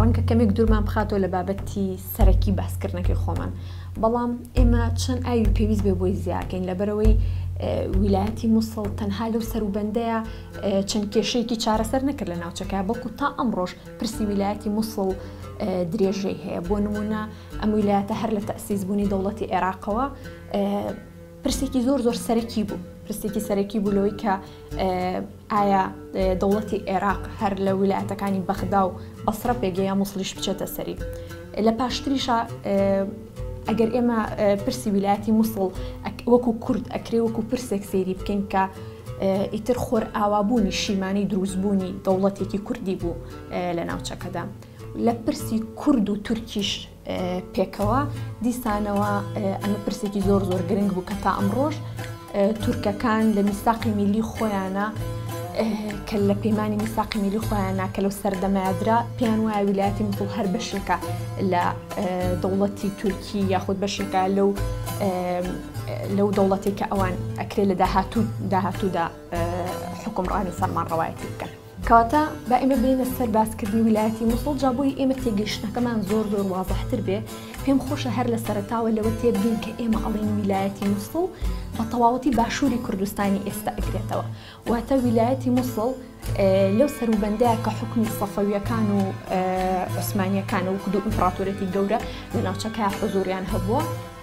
ڕەنگە کەمێک دوورمان بخاتەوە لە بابەتی سەرەکی باسکردنەکەی خۆمان بەڵام ئێمە چەند ئاوی پێویست بێ بۆی زیاکەین لەبەرەوەی ویلایەتی مووسڵ تەنها لەو سەروبەندەیە چەند کێشەیەکی چارەسەر نەکرد لە ناوچەکە بەڵکو تا ئەمڕۆژ پرسی ویلایەتی مووسڵ درێژەی هەیە بۆ نمونە ئەم ویلایەتە هەر لە تەسیز بوونی دەوڵەتی عێراقەوە پرسێکی زۆر زۆر سەرەکی بوو پرسێکی سەرەکی بوو لەوەی کە ئایا دەوڵەتی ئێراق هەر لە ویلایەتەکانی بەغدا و بەسرە پێگەی یا موسڵیش بچێتە سەری لە پاشتریشە ئەگەر ئێمە پرسی ویلایەتی مووسڵ وەکو کورد ئەکرێ وەکو پرسێک سێری بکەین کە ئیتر خۆر ئاوابوونی شیمانی دروستبوونی دەوڵەتێکی کوردی بوو لە ناوچەکەدا لە پرسی کورد و تورکیش پێکەوە دیسانەوە ئەمە پرسێکی زۆر زۆر گرنگ بوو کە تا ئەمڕۆژ تورکەکان لە میساقی میلی خۆیانە کە لە پەیمانانی میساقی میلی خۆیان ناکە لەو سەردەمایدرا پێیان وایە ویلایەتی مسڵ هەر بەشێکە لە دەوڵەتی تورکی یاخود بەشێکە لەو لەو دەوڵەتێکە ئەوان ئەکرێ لە داهاتوو داهاتوودا حکومڕانی سەرمان ڕەوایەتی بکەن. کەواتە با ئێمە بێینە سەر باسکردنی ویلایەتی موسڵ جا بۆی ئێمە تێگەیشتنەکەمان زۆر زۆر وازەحتر بێ پێم خۆشە هەر لە سەرتاوە لەوە تێبگەین کە ئێمە ئەڵین ویلایەتی موسڵ بە تەواوەتی باشووری کوردستانی ئێستا ئەگرێتەوە واتە ویلایەتی موسڵ لەو سەروبەندەیە کە حکومی سەفەویەکان و عوسمانیەکان و کدو ئیمپراتۆرێتی گەورە لە ناوچەکە حزوریان هەبووە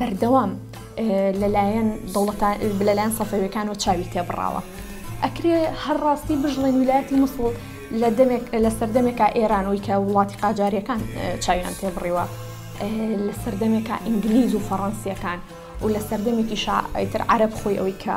بەردەوام لەلایەن دەوڵەتا لەلایەن سەفەویەکانەوە چاوی تێبڕاوە ئەکرێ هەر ڕاستی بژڵێن ویلایەتی مسڵ لە دەمێک لە سەردەمێکا ئێرانەوەی کە وڵاتی قاجارەکان چاویان تێبڕیوە لە سەردەمێکا ئینگلیز و فەڕەنسیەکان و لە سەردەمێکی شاعتر عرب خۆی ئەوی کە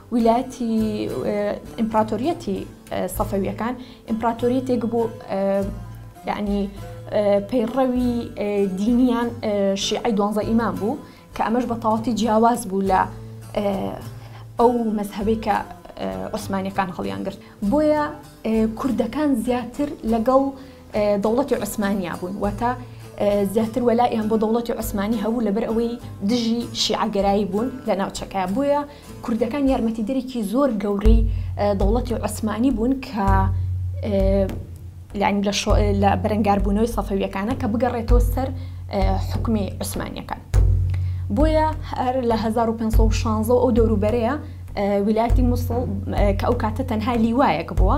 ویلایەتی ئیمپڕاتۆریەتی سەفەویەکان ئیمپڕاتۆریەتێک بوو یعنی پەیڕەوی دینیان شیعی دوانزە ئیمان بوو کە ئەمەش بە تەواتی جیاواز بوو لە ئەو مەذهبی کە عوسمانەکان هەڵیان گرت بۆیە کوردەکان زیاتر لەگەڵ دەوڵەتی عوسمانیا بوون واتە زیاتر وەلائیان بۆ دەوڵەتی عوسمانی هەبوو لەبەر ئەوەی دژی شیعگەرایی بوون لە ناوچەکە بووە کوردەکان یارمەتی دەرێکی زۆر گەورەی دەوڵەتی عوسمانی بوون کە لانی لە بەرەنگاربوونەوەی سەفەویەکانە کە بگەڕێتەوە سەر حکومی عوسمانیەکان بۆیە هەر لە 1516 ئەو دەوروبەرەیە ویلایەتی مووسڵ کە ئەو کاتە تەنها لیوایەک بووە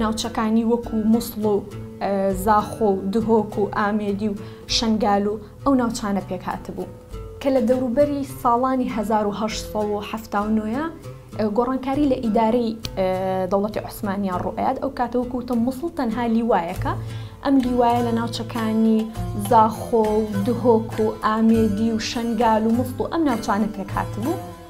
ناوچەکانی وەکو موسڵ و زاخۆ و دهۆک و ئامێدی و شەنگال و ئەو ناوچانە پێک هاتبوو. کە لە دەوروبەری ساڵانی هەزار و هەشت سەد و حەفتا و نۆ گۆڕانکاری لە ئیدارەی دەوڵەتی عوسمانییان ڕوو ئەیات، ئەو کاتە وەکو وتم موسڵ تەنها لیوایەکە، ئەم لیوایە لە ناوچەکانی زاخۆ و دهۆک و ئامێدی و شەنگال و موسڵ و ئەم ناوچانە پێک هاتبوو.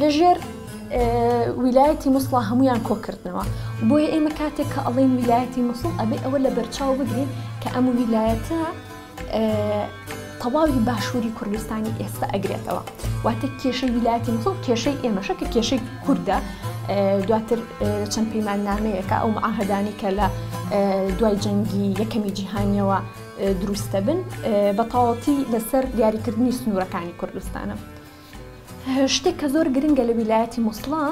لە ژێر ویلایەتی مووسڵا هەمویان کۆکردنەوە بۆیە ئێمە کاتێک کە ئەڵین ویلایەتی مووسڵ ئەبێ ئەوە لە بەرچاو بگرین کە ئەم ویلایەتە تەواوی باشووری کوردستانی ئێستا ئەگرێتەوە واتە کێشەی ویلایەتی مووسڵ کێشەی ئێمەشە کە کێشەی کووردە دواتر چەند پەیمان نامەیەەکە ئەو معاهدانی کە لە دوای جەنگی یەکەمی جیهانیەوە دروستە بن بە تەواتی لەسەر دیاریکردنی سنوورەکانی کوردستانە. شتێک کە زۆر گرنگە لە ویلایەتی مووسڵە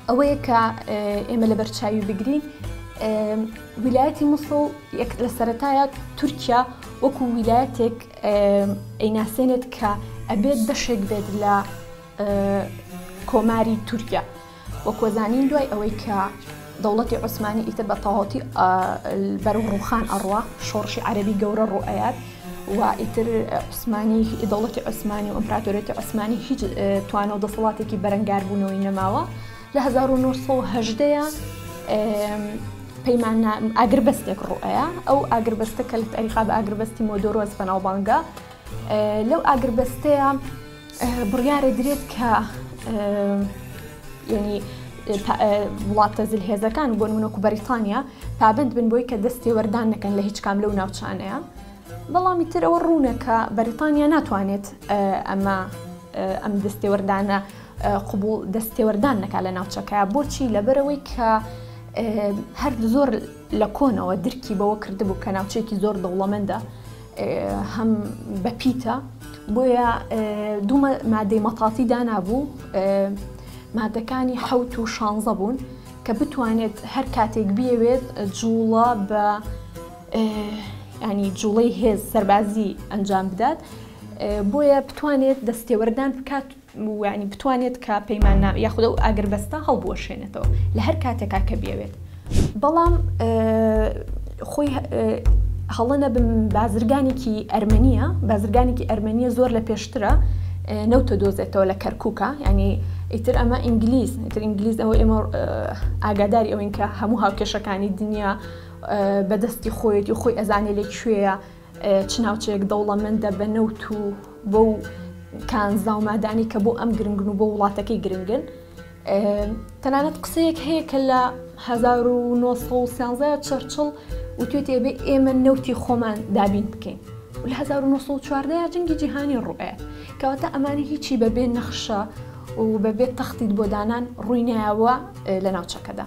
ئەوەیە کە ئێمە لە بەرچاوی بگرین ویلایەتی مووسڵ یەک لە سەتایە تورکیا وەکو ویلایەتێک ئەیناسێنێت کە ئەبێت بەشێک بێت لە کۆماری تورکیا وەکو زانین دوای ئەوەی کە دەوڵەتی عوسمانی ئیتر بە تەواوەتی بەرو ڕوخان ئەڕوا شۆڕشی عەربی گەورە ڕوئەیات و ئیتر عوسمانی دەوڵەتی عوسمانی و ئەمپراتۆرێتی عوسمانی هیچ توانە و دەسەڵاتێکی بەرەنگاربوونەوەی نەماوە لە 1970 پەیمان ئاگربەستێک ڕوئەیە ئەو ئاگربەستە کە لە تاریخا بە ئاگربەستی مۆدۆرۆز بەناوبانگە لەو ئاگربەستەیە بڕیارەدرێت کە ینی وڵاتە زل هێزەکان بۆن منۆک و بەریتانیا پابند بن بۆی کە دەستی وەردان نەکەن لە هیچ کام لەو ناوچانەیە بەڵامی تر ئەوە ڕوونەکە بەریتانیا ناتوانێت ئەمە ئەم دەستێوەردانە قوبول دەستێوەردان نەکا لە ناوچەکە بۆچی لەبەرەوەی کە هەر زۆر لە کۆنەوە درکی بەوە کردبوو کە ناوچێکی زۆر دەوڵەمەندە هەم بە پیتە بۆیە دوو مادەی مەتافی دانابوو مادەکانی حەوت و شانزە بوون کە بتوانێت هەر کاتێک بیەوێت جوڵە بە ینی جوڵەی هێز سەربازی ئەنجام بدات بۆیە بتوانێت دەستێوەردان بکات یانی بتوانێت کە پەیماننامە یاخود ئەو ئاگربەستە هەڵبوەشێنێتەوە لە هەر کاتێکا کە بیەوێت بەڵام خۆی هەڵە نەبم بازرگانێکی ئەرمەنیە بازرگانێکی ئەرمەنیە زۆر لە پێشترە نەوتە دۆزێتەوە لە کەرکووکە ینی ئیتر ئەمە ئینگلیز ئیتر ئینگلیز ئەوە ئێمە ئاگاداری ئەوین کە هەموو هاوکێشەکانی دنیا بەدەستی خۆیەتی و خۆی ئەزانێ لە کوێە چ ناوچەیەک دەوڵەمەندە بە نەوت و بۆ و کانزا و مادانی کە بۆ ئەم گرنگن و بۆ وڵاتەکەی گرنگن تەنانەت قسەیەک هەیە کە لە 1970 چرچڵ وتێتێ بێ ئێمە نەوتی خۆمان دابین بکەین لە 1940 جنگی جیهانی ڕوئێ کەواتە ئەمانی هیچی بەبێ نەخشە و بەبێ تەختیت بۆ دانان ڕووینایەوە لە ناوچەکەدا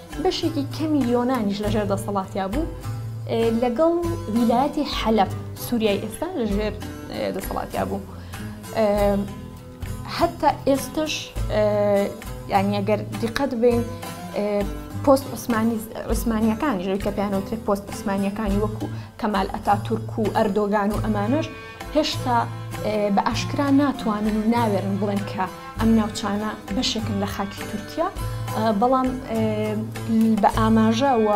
بەشێکی کەمی یۆنانیش لەژێر دەسەڵاتیا بوو لەگەڵ ویلایەتی حەلەب سووریای ئێستا لەژێر دەسەڵاتیا بوو هەتا ئێستش یعنی ئەگەر دیقەت بین پۆست عوسمانی عوسمانیەکانی ژێ کە پێیانەوترێت پۆست عوسمانیەکانی وەکو کەمال ئەتا تورک و ئەردۆگان و ئەمانش هێشتا بە ئاشکرا ناتوانن و ناوێرن بڵێن کە ئەم ناوچانە بەشێکن لە خاکی تورکیا بەڵام بە ئاماژە و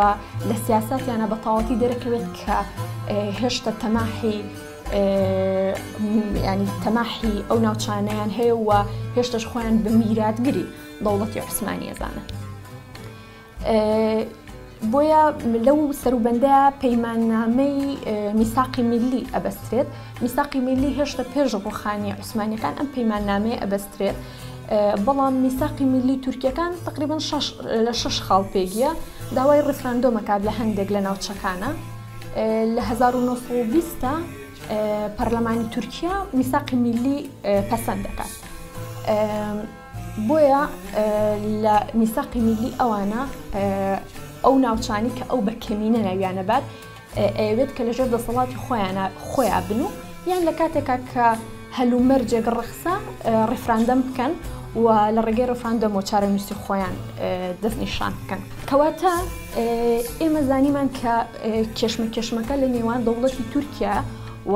لە سیاساتیانە بە تاواتی دەرەکەوێت کە هێشتا تەماحی ینی تەماحی ئەو ناوچانیان هەیە و هێشتش خۆیان بە میراتگری دەوڵەتی عوسمانیەزانن. بۆیە لەو سەروبەندەیە پەیماننامەی میساقی میلی ئەبەسترێت میساقی میلی هێشتا پێش ڕوخانی عوسمانەکان ئەم پەیماننامەیە ئەبەسترێت بەڵام میساقی میلی تورکیەکان تقریبن لە شش خاڵ پێگیە داوای ڕفراندۆمەکات لە هەندێک لە ناوچەکانە لە 1920 پەرلەمانی تورکیا میساقی میلی پەسەند دەکات. بۆیە لە میساقی میلی ئەوانە ئەو ناوچانی کە ئەو بە کەمینە ناویانە بات ئەوێت کە لەژێر دەسەڵاتی خۆیان خۆیان بن و یان لە کاتێکا کە هەلومەرجێک ڕخسا ڕفراندەم بکەن و لە ڕێگەی ڕفراندەم و چارەنووسی خۆیان دەست نیشان بکەن کەواتە ئێمە زانیمان کە کێشمە کێشمەکە لە نێوان دەوڵەتی تورکیا و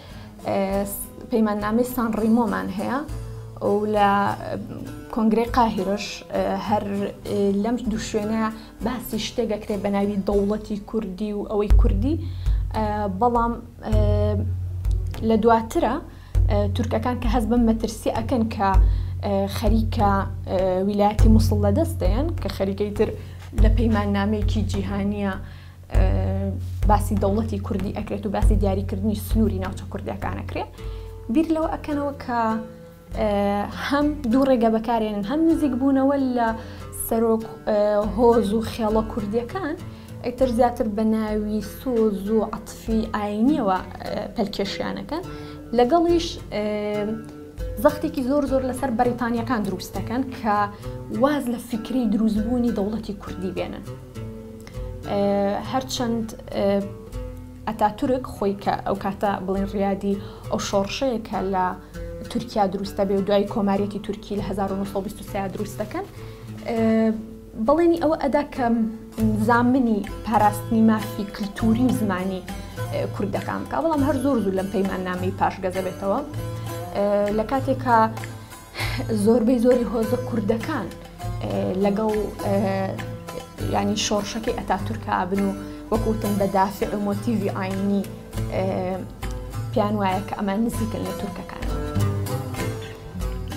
پەیماننامەی سان ڕیمۆمان هەیە و لە کۆنگرەی قاهیرش هەر لەم دوو شوێنە باسی شتێک دەکرێت بە ناوی دەوڵەتی کوردی و ئەوەی کوردی بەڵام لە دواترە تورکەکان کە هەز بم مەترسی ئەکەن کە خەریکە ویلایەتی مووسڵ لە دەست دەیەن کە خەریکەی تر لە پەیمان نامێکی جیهانیە باسی دەوڵەتی کوردی ئەکرێت و باسی دیاریکردنی سنووری ناوچە کوردەکانەکرێت بیر لەوە ئەکەنەوە کە هەم دوو ڕێگە بەکارێنن هەم نزیک بوونەوە لە سەرۆک هۆز و خێڵە کوردیەکان ئەیتر زیاتر بە ناوی سۆز و عتفی ئاینیەوە پەلکێشیانەکە لەگەڵیش زەختێکی زۆر زۆر لەسەر بەریتانیەکان دروستەکەن کە واز لە فیکری دروستبوونی دەوڵەتی کوردی بێنن هەرچەند ئەتاتورک خۆی کە ئەو کاتە بڵێن ڕیادی ئەو شۆڕشەیە کە لە تورکیا دروستە بێ و دوای کۆماریەتی تورکی لە 1920 دروست دەکەن بەڵێنی ئەوە ئەدا کە زامنی پاراستنی مافی کللتوری و زمانی کوردەکان بکە بەڵام هەر زۆر زوو لەم پەیمان نامی پاشگەزە بێتەوە لە کاتێکا زۆربەی زۆری هۆزە کوردەکان لەگەڵ ینی شۆڕشەکەی ئەتاتورکابن و وەکوتن بە دافع و مۆتیڤی ئاینی پێیان وایە کە ئەمان نزیکن لە تورکەکان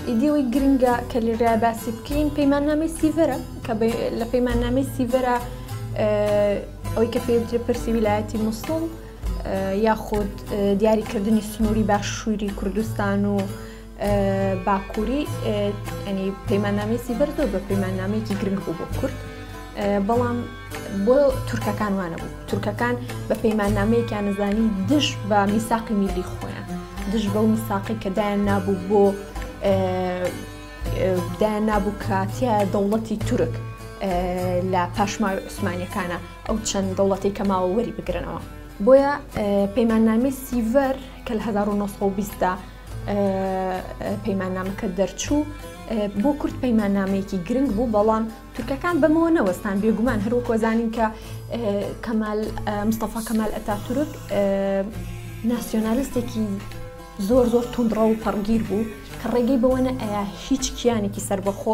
ئیدیەوەی گرنگە کە لێرا باسی بکەین پەیماننامەی سیڤەرە کە لە پەیماننامەی سیڤەرە ئەوەی کە پێوترە پرسی ویلایەتی مووسڵ یاخود دیاریکردنی سنووری باشووری کوردستان و باکووری ئەنی پەیماننامی سیبەر زۆر بە پەیماننامەیەکی گرنگ بوو بۆ کورد بەڵام بۆ تورکەکان وانە بوو تورکەکان بە پەیماننامەیەکیان نزانی دژ بە میساقی میلی خۆیان دژ بەو میساقی کە دایان نابوو بۆ دایان نابوو کاتیە دەوڵەتی تورک لە پاشماوی عوسمانەکانە ئەو چەند دەوڵەتی کە ماوە وەری بگرنەوە بۆیە پەیماننامی سیڤەر کە لە 1920دا پەیماننامەکە دەرچوو بۆ کورد پەیماننامەیەکی گرنگ بوو بەڵام تورکەکان بەمەوە نەوەستان بێگومان هەروەکۆزانین کە کەمال مستەفا کەمال ئەتا تورک ناسیۆنالیستێکی زۆر زۆر توندڕە و پەڕگیر بوو کە ڕێگەی بەوەە ئەیا هیچ کیانێکی سربەخۆ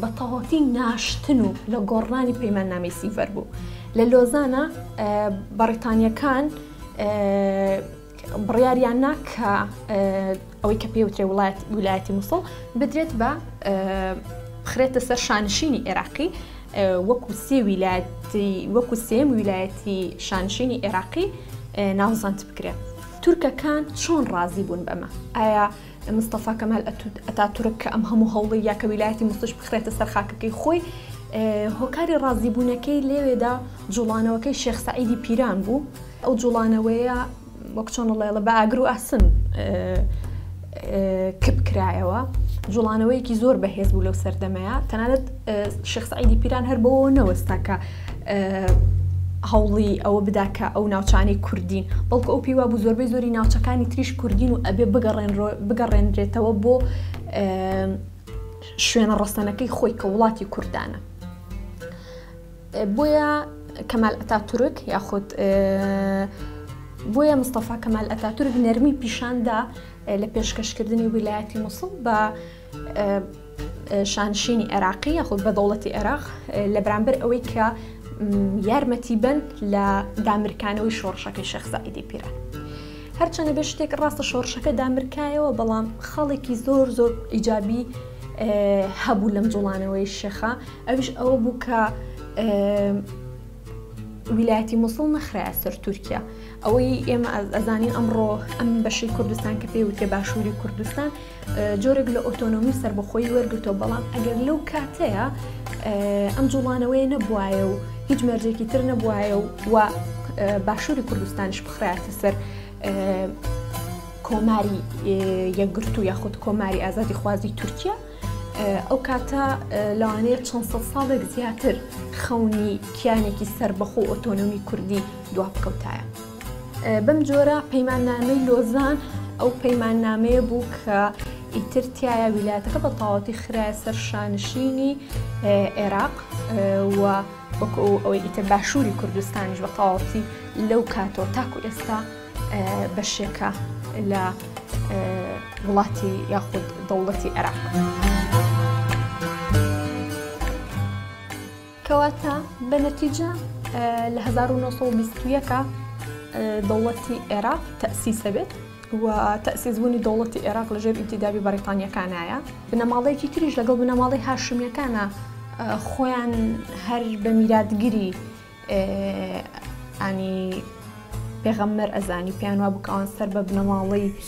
بە تەواوەتی ناشتن و لە گۆڕنانی پەیماننامەی سیڤەر بوو لە لۆزانە بەڕیتانیەکان بڕیاریان نا کە ئەوەی کە پێوترێ وڵات ویلایەتی مووسڵ بدرێت بە بخرێتە سەر شانشینی عێراقی وەکو سێ ویلایەتی وەکو سێم ویلایەتی شانشینی عێراقی ناوزانت بکرێت تورکەکان چۆن ڕازی بوون بەمە ئایا مستەفا کەمال ئەتاتورک کە ئەم هەموو هەوڵی یاکە ویلایەتی مستش بخرێتە سەر خاکەکەی خۆی هۆکاری ڕازیبوونەکەی لێوێدا جوڵانەوەکەی شێخ سعیدی پیران بوو ئەو جوڵانەوەیە وەک چۆنڵێڵە بە ئاگر و ئاسن کپ کرایەوە جوڵانەوەیەکی زۆر بەهێز بوو لەو سەردەمەیە تەنانەت شخصعیدی پیران هەر بەوە نەوەستا کە هەوڵی ئەوە بدا کە ئەو ناوچانەی کوردین بەڵکو ئەو پیوا بوو زۆربەی زۆری ناوچەکانی تریش کوردین و ئەبێ بگەڕێن بگەڕێنرێتەوە بۆ شوێنە ڕەسەنەکەی خۆی کە وڵاتی کوردانە بۆیە کەمال ئەتا تورک یاخود بۆیە مستەفا کەمال ئەتا تورک نەرمی پیشاندا لە پێشکەشکردنی ویلایەتی مووسڵ بە شانشینی عێراقی یاخود بە دەوڵەتی عێراق لە بەرامبەر ئەوەی کە یارمەتی بن لە دامرکانەوەی شۆڕشەکەی شەخزائیدی پیرە. هەرچەنە بە شتێک ڕاستە شۆڕشەکە دامرکایەوە بەڵام خاڵێکی زۆر زۆر ئیجابی هەبوو لەم جوڵانەوەی شێخە ئەوش ئەوە بوو کە ویلایەتی مووسڵ نەخرای سەر تورکیا ئەوەی ئێمە ئەزانین ئەمڕۆ ئەم بەشی کوردستان کە پێوتێ باشووری کوردستان جۆرێک لە ئۆتۆنۆمی و سەربەخۆیی وەرگرتەوە بەڵام ئەگەر لەو کاتەیە ئەم جوڵانەوەی نەبواە و هیچ مەرجێکی تر نەبواە و و باشووری کوردستانش بخراتە سەر کۆماری یەکگرتو یاخود کۆماری ئازادی خوازی تورکیا ئەو کاتە لەوانەیە چەند سە ساڵێک زیاتر خەونی کیانێکی سربەخۆ ئۆتۆنۆمی کوردی دوا بکەوتایە. بەم جۆرە پەیماننامەی لۆزان ئەو پەیماننامەیە بوو کە ئیتر تایە ویلایەتەکە بە تەواوەتی خراە سەر شانشینی عێراق و وەکو ئەوەی ئیتر باشووری کوردستانیش بە تەواوەتی لەو کاتەوە تاکو ئێستا بەشێکە لە وڵاتی یاخود دەوڵەتی عێراق. کەواتە بە نەتیجە لە هەزار و نۆ سەد و بیست و یەک دەوڵەتی عێراق تەسیسە بێت و تەسیزبوونی دەوڵەتی عێراق لەژێر ئینتیدابی بەریتانیەکانایە بنەماڵەیەکی تریش لەگەڵ بنەماڵی هاشمیەکانە خۆیان هەر بە میراتگیری ئانی پێغەممەر ئەزانی پێیان وا بکەوان سەر بە بنەماڵەی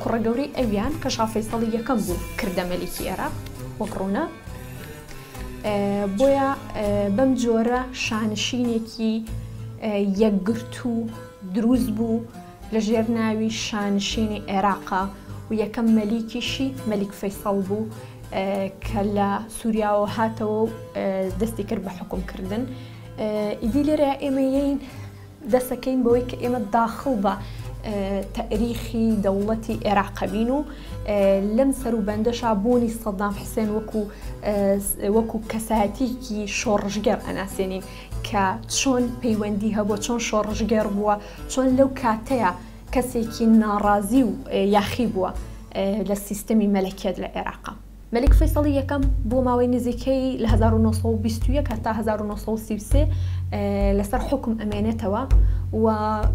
کوڕە گەورەی ئەویان کە شا فەیسەڵی یەکەم بوو کردە مەلیکی ئێراق وەک ڕوونە بۆیە بەم جۆرە شانشینێکی یەکگرتوو دروست بوو لە ژێر ناوی شانشینی عێراقا و یەکەم مەلیکیشی مەلیک فەیسەڵ بوو کە لە سووریاوە هاتەوە و دەستی کرد بە حکومکردن ئیدی لێرە ئێمەین دەسەکەین بەوەی کە ئێمە داخڵ بە تەریخی دەوڵەتی عێراق بین و لەم سەروبەندەشا بوونی سەدام حسێن وەکو وەکو کەسایەتیکی شۆڕژگەر ئەناسێنین کە چۆن پەیوەندی هەبووە چۆن شۆڕژگەر بووە چۆن لەو کاتەیە کەسێکی ناڕازی و یاخی بووە لە سیستەمی مەلەکێت لە عێراقا. مەلیک فەیسەڵی یەکەم بۆ ماوەی نزیکەی لە هەزار و نۆ سەد و بیست و یەک هەتا هەزار و نۆ سەد و سی و سێ لەسەر حوکم ئەمێنێتەوە و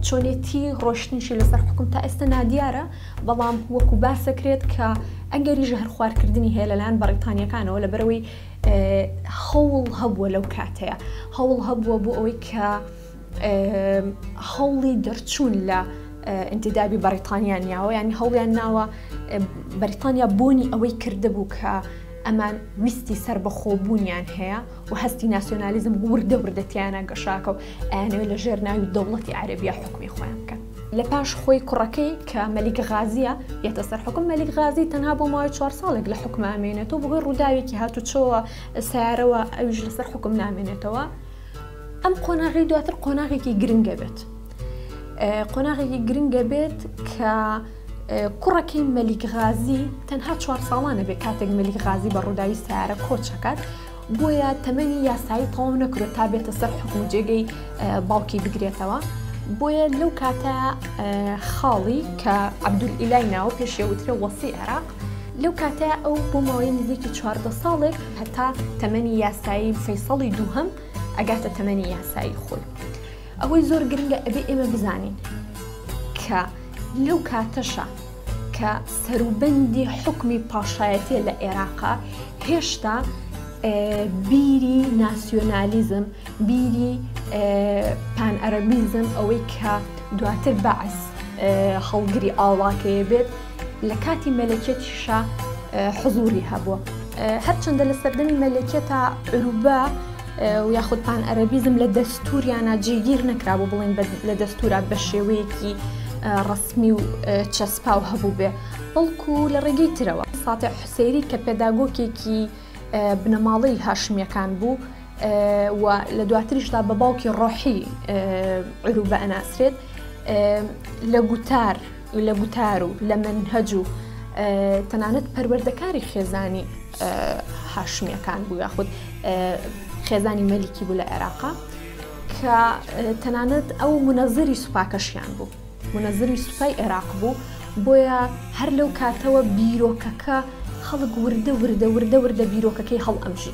چۆنێتی ڕۆشتنیشی لەسەر حکوم تا ئێستا نادیارە بەڵام وەکو باسەکرێت کە ئەگەری ژەهر خوارکردنی هەیە لەلاەن بەڕیتانیەکانەوە لە بەرەوەی هەوڵ هەبووە لەو کاتەیە هەوڵ هەبووە بۆ ئەوەی کە هەوڵی دەرچوون لە ئینتیدابی بەریتانیا نیاوە ینی هەوڵیان ناوە بەریتانیا بۆنی ئەوەی کردبوو کە ئەمان ویستی سەر بە خۆبوونیان هەیە و هەستی ناسیۆنالیزم وردە وردەتیانە گەشاکە و ئەیانەوەی لە ژێر ناوی دەوڵەتی عەربیە حکومی خۆیان بکەن لە پاش خۆی کوڕەکەی کە مەلیک غازیە یەتە سەر حکم مەلیک غازی تەنها بۆ ماوەی چوار ساڵێک لە حکومامێنێتەوە بەهۆی ڕووداوێکی هاتوچۆوە سیارەوە ئەویش لەسەر حکم نامێنێتەوە ئەم قۆناغی دواتر قۆناغێکی گرنگە بێت قۆناغێکی گرنگە بێت کە کوڕەکەی مەلیک غازی تەنها چوار ساڵانە بێ کاتێک مەلیک غازی بە ڕووداوی سارە کۆچەکات بۆیە تەمەنی یاسایی تەواو نەکرێت تا بێتە سەر حکم جێگەی باوکی بگرێتەوە بۆیە لەو کاتە خاڵی کە عبدول ئیلای ناوە پێشێوترە وەسی عێراق لەو کاتەیە ئەو بۆ ماوەی نزیکی چواردە ساڵێک هەتا تەمەنی یاسایی فەیسەڵی دووهەم ئەگاتە تەمەنی یاسایی خۆی ئەوەی زۆر گرنگە ئەبێ ئێمە بزانین کە لەو کاتەشە کە سەروبەندی حکمی پاشایەتە لە عێراقا هێشتا بیری ناسیۆنالیزم بیری پان ئەرەبیزم ئەوەی کە دواتر بەعس هەڵگری ئاڵاکەیە بێت لە کاتی مەلەکیەتیشا حزوری هەبووە هەرچەندە لە سەردەمی مەلەکیەتا عروبە و یاخود پان ئەرەبیزم لە دەستوریانە جێگیر نەکرا بۆ بڵین لە دەستورا بە شێوەیەکی ڕسمی و چەسپا و هەبوو بێ بەڵکو لە ڕێگەی ترەوە ساتە حسێری کە پێداگۆکێکی بنەماڵی هاشمیەکان بوو و لە دواتریشدا بە باوکی ڕۆحی عروبە ئەناسرێت لە گوتار لە گوتار و لە مەنهەج و تەنانەت پەروەردەکاری خێزانی هاشمیەکان بوو یاخود خێزانی مەلیکی بوو لە عێراقا کە تەنانەت ئەو منەزری سوپاکەشیان بوو منەزری سوپای عێراق بوو بۆیە هەر لەو کاتەوە بیرۆکەکە خەڵک وردە وردە وردە وردە بیرۆکەکەی هەڵ ئەمژی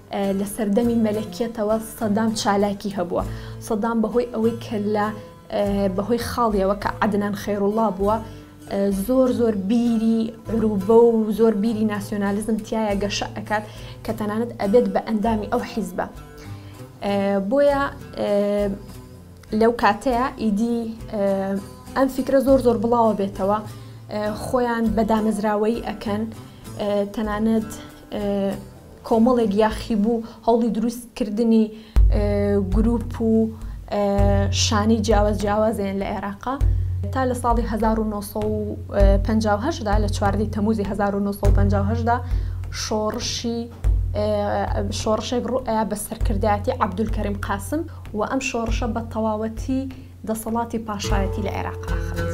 لە سەردەمی مەلەکیەتەوە سەدام چالاکی هەبووە سەدام بەهۆی ئەوەی کە لە بەهۆی خاڵیەوە کە عدنان خێڕوڵا بووە زۆر زۆر بیری عروبە و زۆر بیری ناسیۆنالیزم تایە گەشە ئەکات کە تەنانەت ئەبێت بە ئەندامی ئەو حیزبە بۆیە لەو کاتەیە ئیدی ئەم فیکرە زۆر زۆر بڵاوە بێتەوە خۆیان بە دامەزراوەی ئەکەن تەنانەت کۆمەڵێک یاخیبوو هەوڵی دروست کردنی گروپ و شانی جیاواز جیاوازیان لە عێراقا تا لە ساڵی 1950دا لە چواردەی تەموزی 1950دا شۆڕشی شۆڕشێک ڕوئە بە سەرکردایەتی عبدول کەریم قاسم و ئەم شۆڕشە بە تەواوەتی دەسەڵاتی پاشایەتی لە عێراق ئاخرێت.